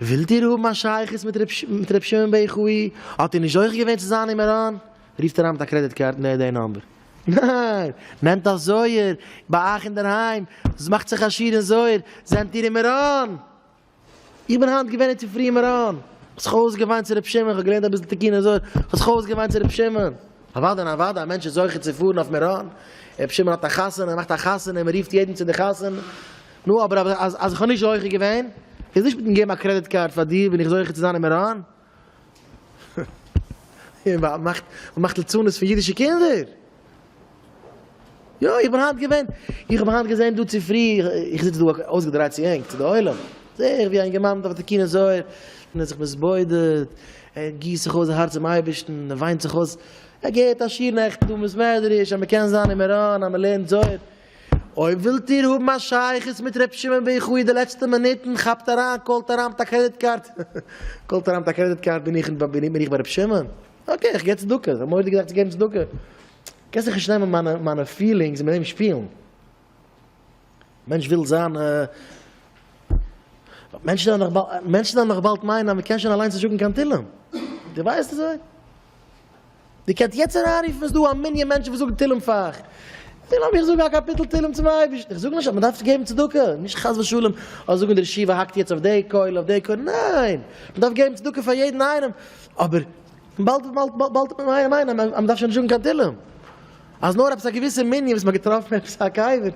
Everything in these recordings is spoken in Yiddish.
ווילט איר האבן א שייכות מיט ר' שמעון ב ח אי האט איר נישט זוכה געווען צו זיין אין מירון? רופט אריין מיט א קרעדיט קארד נער די נאמבער. ניין! נעמט א זויער ביי אייך אינדערהיים, מאכט זיך עשיר אין זויער, זענט איר אין מירון! איך בין היינט געווען אינצופרי אין מירון, כ'האב זיך אויסגעוויינט צו ר' שמעון, כ'האב געלערנט אביסל תיקוני זוהר, כ'האב זיך אויסגעוויינט צו ר' שמעון. אוודאי און אוודאי א מענטש איז זוכה צו פארן אויף מירון, ר' שמעון האט א חתונה, ער מאכט א חתונה און מען רופט יעדן צו די חתונה. נו אבער אז אז איך האב נישט זוכה געווען, איז נישט מיטן געבן א קרעדיט קארד פאר דיר בין איך זוכה צו זיין אין מירון? און מען מאכט מען מאכט לצנות פון אידישע קינדער? יא איך בין היינט געווען, איך האב היינט געזען דא צופרי, איך זיץ דא אויסגעדרייט צו ענק צו די עולם, זע איך ווי א אינגערמאן דארף די קינות זוהר, און ער האט זיך מתבודד, ער גיסט זיך אויס זיין הארץ צום אייבערשטן, ער וויינט זיך אויס, ער געהערט א שיעור נעכטן דא אין בית מדרש אז מען קען זיין אין מירון אז מען לערנט זוהר, אויב ווילט איר האבן א שייכות מיט ר' שמעון ביה ח אין די לעצטע מינוטן, כאפט אריין, קאלט אריין מיט א קרעדיט קארד, קאלט אריין מיט א קרעדיט קארד, בין איך בין איך ביי ר' שמעון? אקעי איך גיב צדקה, איך האב מורא די געדאכט צו געבן צדקה, קענסט זיך נישט נעמען מיינע מיינע פילינגס און מיט דעם שפילן, מענטש וויל זיין מענטשן וועלן נאך באלד מיינען אז מען קען שוין אליינס נישט זאגן קיין תהילים, די ווייסט אזוי? איר קענט יעצט אריינרופן, איז דא א מנין מענטשן וואס זאגן תהילים פאר אייך, זיי לאמיר זאגן א קאפיטל תהילים צום אייבערשטן, איך זאג נישט אז מען דארף געבן צדקה, נישט חס ושלום אז זאגן די רשיבה האקט יעצט אויף די קויל אויף די קויל, ניין! מען דארף געבן צדקה פאר יעדן איינעם, אבער באלד באלד מען מיין מיין אז מען דארף שוין נישט זאגן קיין תהילים, אז נאר עפעס א געוויסע מנין וואס מען האט געטראפן עפעס א קבר,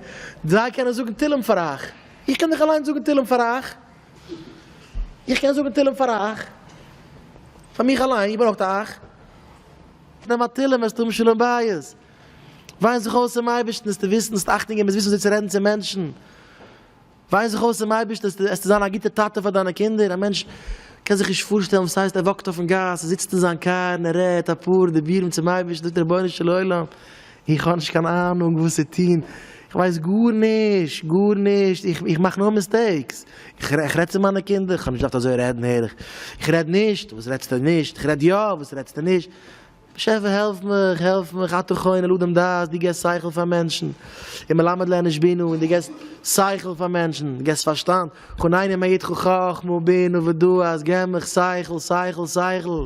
זיי קענען זאגן תהילים פאר אייך, איך קען דאך אליינס זאגן תהילים פאר אייך. איך קען זאגן תהלים פאר אייך, פאר מיך אליין, איר ברויכט אייך נעמען א תהלים וועסטו האבן שלום בית, וויין זיך אויס צום אייבערשטן עסטו וויסן זאלסט אכטונג געבן עסט וויסן וויאזוי צו רעדן צו מענטשן, וויין זיך אויס צום אייבערשטן עסטו זיין א גוטע טאטע פאר דיינע קינדער, א מענטש קען זיך נישט פארשטעלן וואס הייסט ער וואקט אויפן גאס, ער זיצט אין זיין קאר און ער רעדט אפאר דיבורים צום אייבערשטן זאגט ער רבונו של עולם איך האב נישט קיין אהנונג וואס צו טון, איך ווייס גארנישט, גארנישט, איך מאך נאר מיסטעיקס, איך רעד צו מיינע קינדער, איך האב נישט געדארפט אזוי רעדן הער איך, איך רעד נישט, וואס רעדסטו נישט, איך רעד יא, וואס רעדסטו נישט, באשעפער העלף מיך, העלף מיך, אתה חונן לאדם דעת, דו געסט שכל פאר מענטשן, און מלמד לאנוש בינה, און דו געסט שכל פאר מענטשן, דו געסט פארשטאנד, חונני מעידך חכמה ובינה ודעת, געב מיך שכל, שכל, שכל.